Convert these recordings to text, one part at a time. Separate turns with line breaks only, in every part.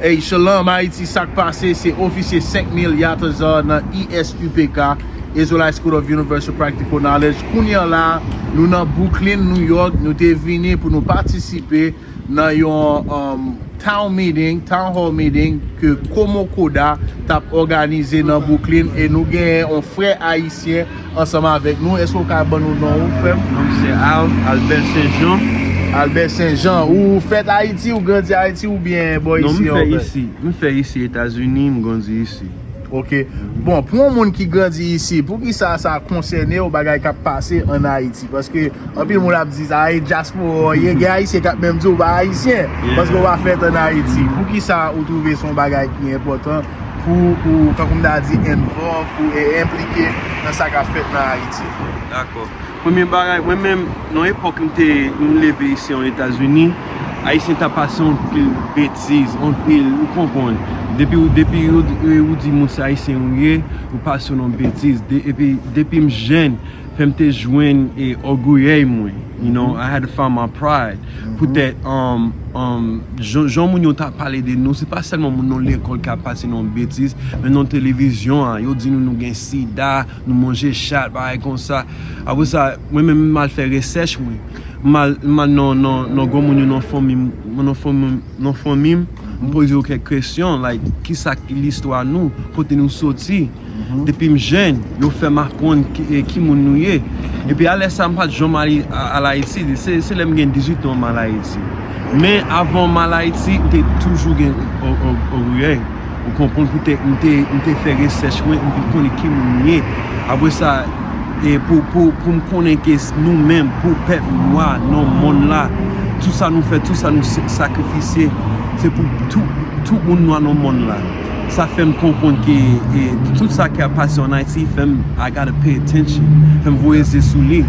Ey Shalom Haiti sak pase se ofisye 5 mil Yatazar nan ISUPK, Israelite School of Universal Practical Knowledge, kounya la nou nan Brooklyn New York nou te vini pou nou patisipe nan yon town meeting, town hall meeting ke Komokoda tap òganize nan Brooklyn e nou genyen yon frè ayisyen Ansanm avèk nou, èske ou ka ban nou non ou frèm? Non m se Al,
Albert Saint Jean. Albert Saint
Jean, ou fèt Ayiti, ou grandi Ayiti ou byen bò isi an vè? Non m fè
isi, m fè isi Etazini, m grandi isi. Ok,
bon pou yon moun ki grandi isi, pou ki sa sa konsène ou bagay kap pase an Ayiti? Paske anpil moun ap di sa, e dyaspora ou ye, gen Ayisyen kap menm di ou pa Ayisyen, paske ou pa fèt an Ayiti. Pou ki sa ou twouve son bagay ki enpòtan? pou ou, tankou m ta di, envòlv, pou ou enplike nan sa k ap fèt nan Ayiti. Dakò.
Premye bagay, mwen menm, nan epòk m te, m leve isi an Etazini, Ayisyen ta pase yon pil betiz, yon pil, ou konprann. Depi ou, depi ou di moun se Ayisyen ou ye, ou pase yon non betiz. Epi, depi m jenn, fè m te jwenn ògouyeèy mwen. You know, I had to find my pride. Poutè jan moun yo ta pale de nou, se pa sèlman moun nan lekòl ki ap pase nou betiz, men nan televizyon an, yo di nou nou gen sida, nou manje chat, bagay konsa. Apre sa, mwen menm m al fè resèch mwen. M al nan granmoun yo nan fanmi m, nan fanmi m, m poze yo kèk kesyon, like, kisa ki listwa nou, kote nou soti. Depi m jenn, yo fè m aprann ki moun nou ye. Epi a lè sa m pa t janm al Ayiti. Se lè m gen 18 an m al Ayiti. Men avan m al Ayiti, m te toujou gen oryè. Ou konprann pou tèt m te fè resèch mwen, m vin konnen ki moun m ye. Apre sa, pou m konnen ke nou menm, pou pèp nwa nan monn la, tout sa nou fè, tout sa nou sakrifisye, se pou tout moun nwa nan monn la. Sa fè m konprann ke tout sa ki ap pase an Ayiti fè m I gotta pay attention, fè m voye zye sou li,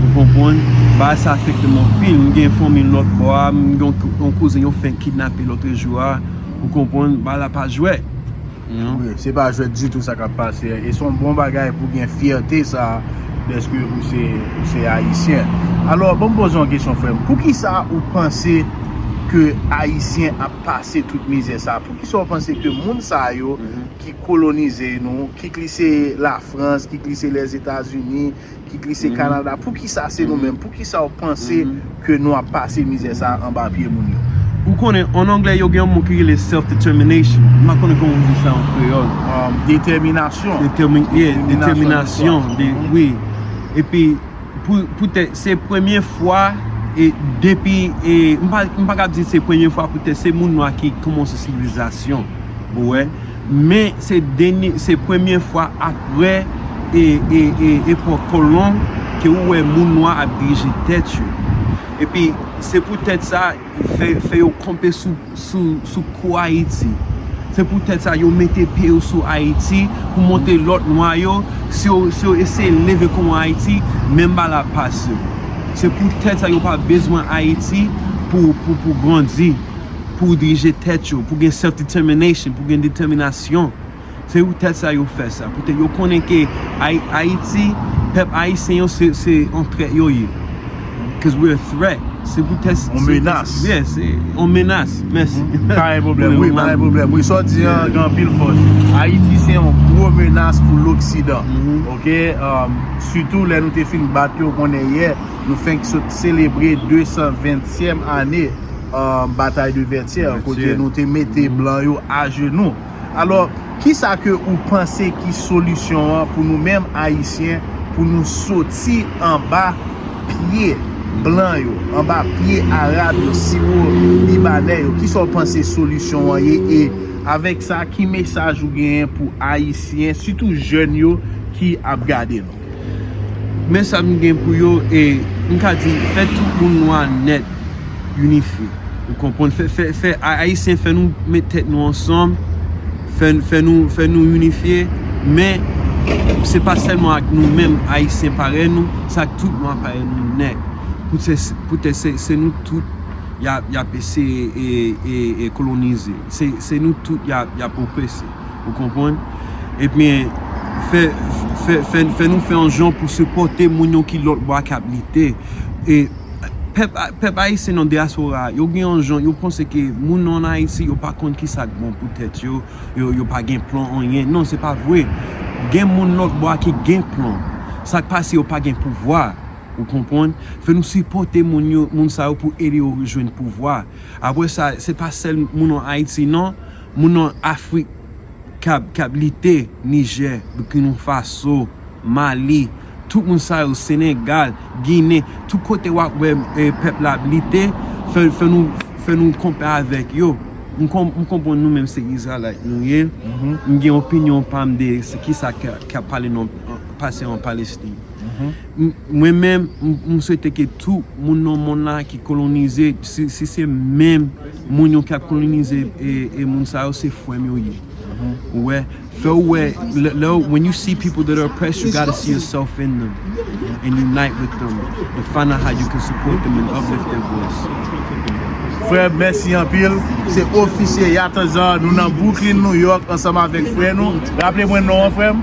ou konprann. Bagay sa afekte m anpil. M gen fanmi m lòt bò a, m gen yon kouzen yo fenk kidnape lòtrejou a, ou konprann. Bagay la pa jwèt. Wi, se
pa jwèt ditou sa k ap pase a e se yon bon bagay pou gen fyète sa a dèske ou se Ayisyen. Alò, ban m poze w yon kesyon, frè m. Poukisa ou panse ke Ayisyen ap. pase tout mizè sa poukisa ou panse ke moun sa yo ki kolonize nou ki k li se la frans ki k li se lè zetazini ki k li se kanada poukisa se nou menm poukisa ou panse ke nou ap pase mizè sa anba pye moun yo. Ou konnen an
anglè yo gen yon mo ki rele self determination m pa konnen kòman ou di sa an kreyòl. Detèminasyon. Detèminasyon wi epi. Se premye fwa depi, m pa kab di se premye fwa pou tè se moun nwa ki koumonse sivilizasyon, ou wè, men se premye fwa apre epò kolon ke ou wè moun nwa ap dirije tèt yo. E pi, se pou tèt sa, Fè yo kanpe sou kou Ayiti. Se pou tèt sa yo mete pye yo sou Ayiti pou monte lòt nwa yo. Si yo eseye leve kou an Ayiti, menm ba la pas yo. Se pou tèt sa yo pa bezwen Ayiti pou grandi, pou dirije tèt yo, pou gen self determination, pou gen deteminasyon. Se pou tèt sa yo fè sa. Poutèt yo konnen ke Ayiti, pèp Ayisyen yo se yon trèt yo ye. Cause we're a threat. Se pou tèt. Yon menas. Yes.
Yon
menas. Mèsi. Pa gen pwoblèm. Wi,
pa gen pwoblèm. Wi, sa w di an gen anpil fòs. Ayiti se yon gwo menas pou loksidan. Ok? Sitou lè nou te fin bat yo konnen yè, nou fenk sot selebre 220 tièm ane batay de Vètyè kote nou te mete blan yo ajenou. Alò, kisa ke ou panse ki solisyon an pou nou menm Ayisyen pou nou soti anba pye blan yo, anba pye Arab yo, siwo Libanè yo? Kisa ou panse solisyon an ye? E avèk sa, ki mesaj ou genyen pou Ayisyen, sitou jèn yo ki ap gade nou? Men sa m gen pou
yo e m ka di fè tout moun nwa nèt inifye. Ou konprann? Fè Ayisyen fè nou met tèt nou ansanm, fè nou inifye. Men se pa sèlman ak nou menm Ayisyen parèy nou, se ak tout nwa parèy nou nèt. Poutèt se nou tout y ap eseye kolonize. Se nou tout y ap oprese. Ou konprann? Ebyen, fè, fè, fè, fè nou fè yon jan pou sipòte moun yo ki lòt bò a k ap lite. E, pèp, pèp ayisyen nan dyaspora a, yo gen yon jan, yo panse ke moun ann Ayiti yo pa konn ki sa k bon pou tèt yo, yo, yo pa gen plan anyen. Non, se pa vre. Gen moun lòt bò a ki gen plan. Sa k pase yo pa gen pouvwa. Ou konprann? Fè nou sipòte moun yo, moun sa yo pou ede yo rejwenn pouvwa. Apre sa, se pa sèl moun ann Ayiti non. Moun nan Afrik k ap lite, Nijè, Bikinofaso, Mali, tout moun sa yo, Senegal, Ginen, tout kote w ap wè pèp la ap lite, fè nou konpè avèk yo. M konprann nou menm se Izralayit nou ye, m gen opinyon pa m de ki sa k ap pase an Palestin. Mwen menm, m swete ke tout moun nan monn la ki kolonize, si se menm. Moun yo ki ap kolonize e moun sa yo se frèm yo ye ou wè fè ou wè lè ou when you see people that are oppressed you gotta see yourself in them and unite with them and find out how you can support them and uplift their voice. Frèm mèsi
anpil, se Ofisye Yatazar nou nan Brooklyn New York ansanm avèk frè nou, raple mwen non an frèm?